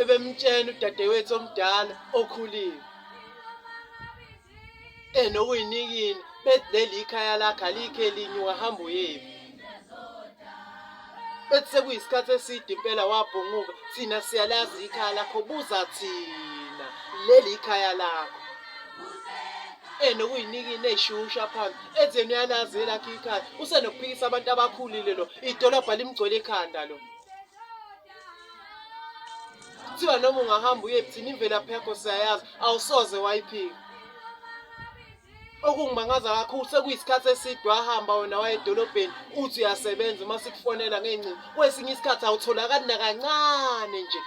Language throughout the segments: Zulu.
ebemtshena udadewethu omdala okhulile enokuyinikini bethi leli ikhaya lakhe alikho elinye wahamba uyephi bethi sekuyisikhathi eside impela wabhunguka thina siyalazi ikhaya lakho buza thina leli ikhaya lakho enokuyinikini eyishusha phansi enzeni uyalazi elakhe ikhaya usenokuphikisa abantu abakhulile lo idolobha limgcwele ekhanda lo kuthiwa noma ungahamba uye buthini imvelaphi yakho siyayazi awusoze wayiphika okungimangaza kakhulu sekuyisikhathi eside wahamba wena wayedolobheni uthi uyasebenza uma sikufonela ngey'ncingo kwesinye isikhathi awutholakali nakancane nje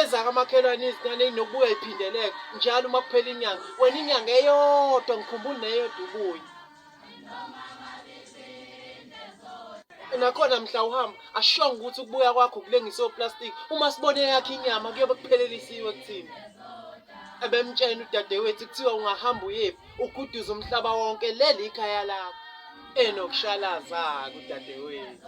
ezakamakhelwane izinane inokubuya iphindeleke njalo uma kuphela inyanga wena inyanga eyodwa ngikhumbula neyodwa ubuye nakhona mhla uhamba ashonga ukuthi ukubuya kwakho kulengise oplastic uma sibone yakhe inyama kuyobe kuphelelisiwe kuthina ebemtshena udadewethu kuthiwa ungahamba uyephi uguduza umhlaba wonke leli ikhaya lakho enokushalaza-ke udadewethu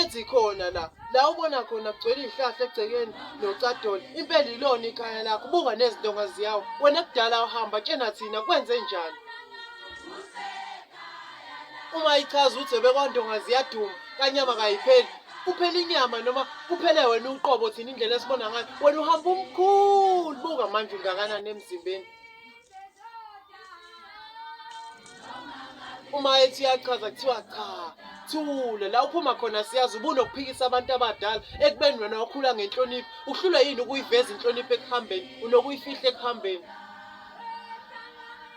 ethi khona la la ubona khona kugcwele izihlahla egcekeni nocadol impela ilona ikhaya lakho buka nezindonga ziyawo wena kudala uhamba tshena thina kwenze njani uma ichaza ukuthi ebekwandonga ziyaduma kanyama kayipheli kuphela inyama noma kuphele wena uqobo thina indlela esibona ngayo wena uhamba umkhulu buka manje ungakanani emzimbeni uma ethi uyachaza kuthiwa cha thule la uphuma khona siyazi ubunokuphikisa abantu abadala ekubeni wena wakhula ngenhlonipho uhlulwe yini ukuyiveza inhlonipho ekuhambeni unokuyifihla ekuhambeni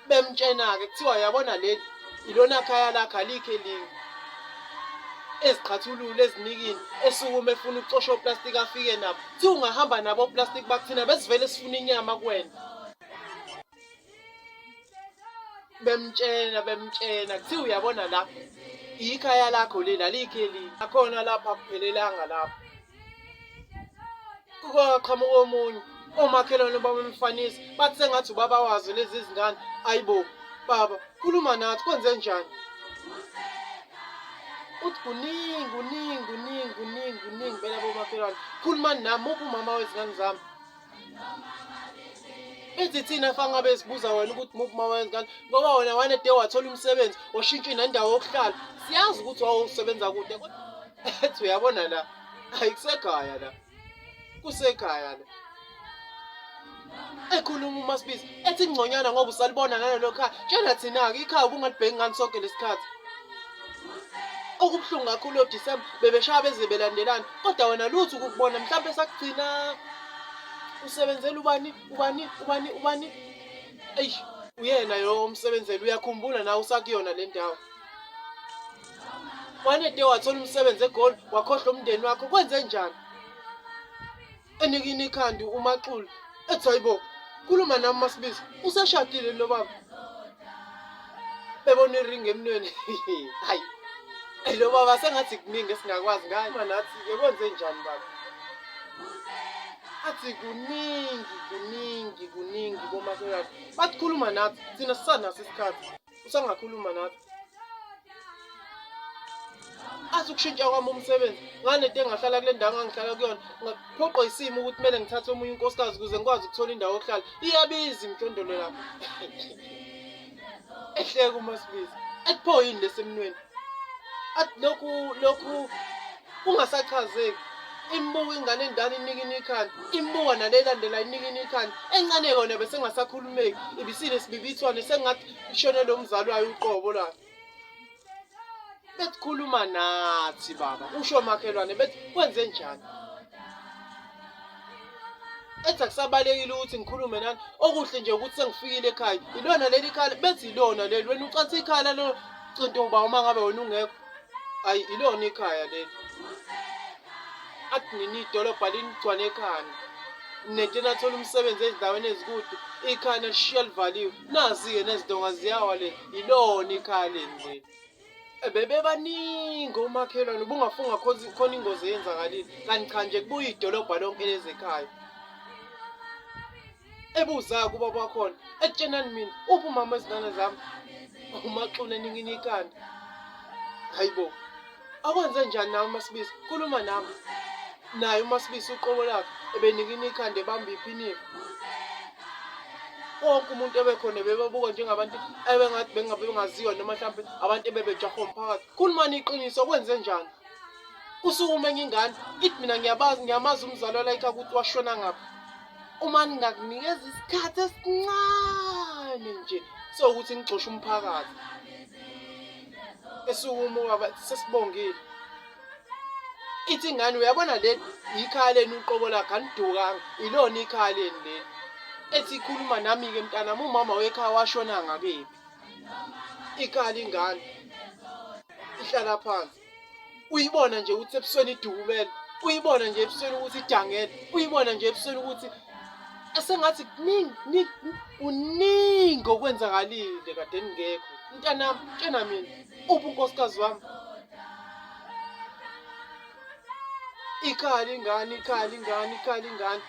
bemtshena-ke kuthiwa yabona leli ilona khaya lakhe alikho elinye eziqhathulule ezinikini esukume efuna ukucosha oplastiki afike nabo thi ungahamba nabo oplastiki bakuthina besivele sifuna inyama kuwena bemtshena bemtshena kuthiwa uyabona la ikhaya lakho leli alikho eli akhona lapha akuphelelanga lapho kukwaqhamuka omunye omakhelwane babamfanisa bathi sengathi ubaba wazo lezi zingane ayibo baba khuluma nathi kwenze njani uthi kuningi kuningi kuningi kuningi kuningi bela bomakhelwane khulumani nami uphi umama wezingane zami ithi thina fa ngabe sibuza wena ukuthi muphi uma wenza kanti ngoba wena wane de wathola umsebenzi washintsha inendawo yokuhlala siyazi ukuthi wawusebenza kude ethi uyabona la ayikusekhaya la kusekhaya la ekhuluma uma sibiza ethi ngconyana ngoba usalibona nalelo khaya tshela thina-ke ikhaya ubungalibheki ngani sonke lesikhathi okubuhlungu kakhulu yodisemba bebeshaya beze belandelana kodwa wena lutho ukukubona mhlawumbe sakugcina usebenzela ubani ubani ubani ubani eyi uyena yo omsebenzeli uyakhumbula nawe usakuyona le ndawo wanede wathola umsebenzi egoli wakhohlwa umndeni wakho kwenze njani enikini ikhandi umaxulu ethi hayibo khuluma nami masibiza useshadile lo baba bebona iringi emnweni hayi lo baba sengathi kuningi esingakwazi ngayo uma nathi yekwenze njani baba athi kuningi kuningi kuningi komakhelwane bathi khuluma nathi thina sisanaso isikhathi usangakhuluma nathi athi ukushintsha kwami umsebenzi nganede engahlala kule ndawo ngangihlala kuyona ngaphoqwa isimo ukuthi kumele ngithathe omunye unkosikazi ukuze ngikwazi ukuthola indawo yokuhlala iyabiza imjondolo lapho ehleka umasibizi athi pho yini lesemnweni athi lokhu lokhu ungasachazeki imbuka ingane endala inikini ikhanda imbuka nale elandela inikini ikhanda encane yona besengasakhulumeki ibisile sibibithwane sengathi ishonele umzali wayo uqobo lakhe besikhuluma nathi baba usho makhelwane bethi kwenze njani ethi akusabalekile ukuthi ngikhulume nani okuhle nje ukuthi sengifikile ekhaya ilona leli khala bethi ilona leli wena ucathi ikhala lo cinto uba uma ngabe wena ungekho ayi ilona ikhaya leli athi nini idolobha linigcwane ekhanda nento enathola umsebenzi ezindaweni ezikude ikhaya nalishiya livaliwe nazi-ke nezidonga ziyawa le yilona ikhaya leni leli bebebaningi omakhelwane ubungafunga khona ingozi eyenzakalile kanti cha nje kubuye idolobha lonke lezekhaya ebuzayo kuba bakhona ekutshenani mina uphi umama ezingane zami umaxula ningini ikhanda hayi bo akwenze njani nawe umasibisi khuluma nami naye umasibisi uqobo lakhe ebenikini ikhanda ebamba iphinifa wonke umuntu ebekhona bebabuka njengabantu ebengathi bengabe bengaziwa noma mhlawumbe abantu ebebejaha umphakathi khulumani iqiniso kwenze njani usukume ngingane ithi mina ngiyabazi ngiyamazi umzali walayikha ukuthi washona ngaphi uma ningakunikeza isikhathi esincane nje sokuthi ngigxoshe umphakathi esukumo baba sesibongile ithi ingane uyabona le yikhaya lenu uqobo lakhe anidukanga ilona ikhaya lenu leli ethi ikhuluma nami-ke mntanami umama wekhaya washona ngakephi ikhaya lingane ihlala phansi uyibona nje ukuthi ebusweni idukumele uyibona nje ebusweni ukuthi idangele uyibona nje ebusweni ukuthi esengathi kuningi kuningi okwenzakalile kade ningekho mntanami tshena mina uphi unkosikazi wami ikhali ingane ikhali ingane ikhali ingane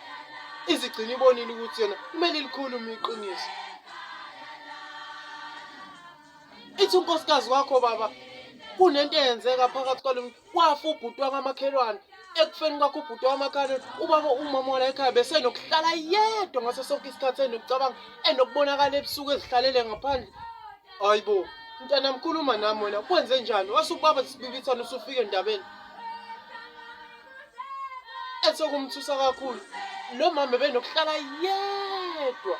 izigcina ibonile ukuthi yona kumele ilikhulume iqiniso ithi unkosikazi wakho baba kunento eyenzeka phakathi kwalomntu wafa ubhuti wakamakhelwane ekufeni kwakho ubhuti wamakhalweni ubaba umama wala ekhaya besenokuhlala yedwa ngaso sonke isikhathi enokucabanga enokubonakala ebusuku ezihlalele ngaphandle hayi bo mntana mkhuluma nami wena kwenze njani wase ubaba sibibithana usufike endabeni Ethe kumthusa kakhulu lo mama benokuhlala yedwa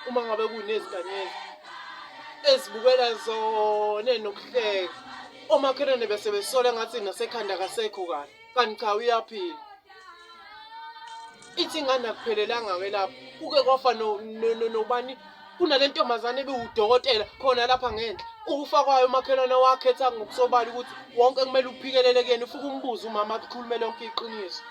uma ngabe kunezigameko ezibukela zona nokuhleka omakhelwane bese besola ngathi nasekhanda kasekho kahle kanti cha uyaphila ithi ingane akuphelelanga ke lapho kuke kwafa nobani kunale ntombazane ebiwudokotela khona lapha ngenhla ukufa kwayo umakhelwane wakhetha ngokusobala ukuthi wonke kumele uphikelele kuyena ufuke umbuze umama akukhulume lonke iqiniso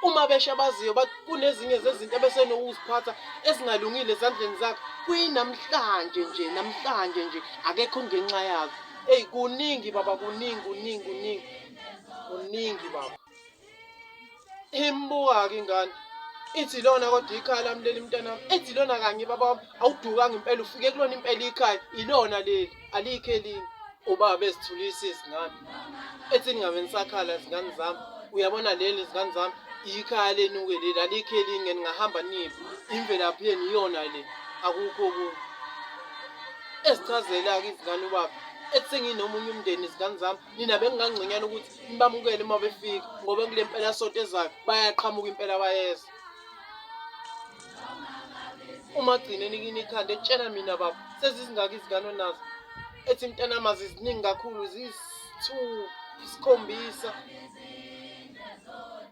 uma besha baziyo kunezinye zezinto ebesenokuziphatha ezingalungile ezandleni zakhe kuyinamhlanje nje namhlanje nje akekho ngenxa yazo eyi kuningi baba kuningi kuningi kuningi kuningi baba imbuka-ke ingane ithi lona kodwa ikhaya lami leli mntanami ethi lona kanye baba wami awudukanga impela ufike kulona impela ikhaya ilona leli alikho elinye ubaba ezithulisa izingane ethi ningabe nisakhala izingane zami uyabona leli izingane zami ikhaya lenuke leli alikho elinye ningahamba nive imvelaphi yenu iyona le akukho okunye ezichazela-ke izingane ubaba ethi senginomunye umndeni izingane zami nina bengingangconyana ukuthi nibamukele uma befika ngoba kule mpela sonto ezayo bayaqhamuka impela bayeza uma gcine nikini ikhanda etshela mina baba sezizingaki izingane onazo ethi mntanama ziziningi kakhulu ziyisithupha isikhombisa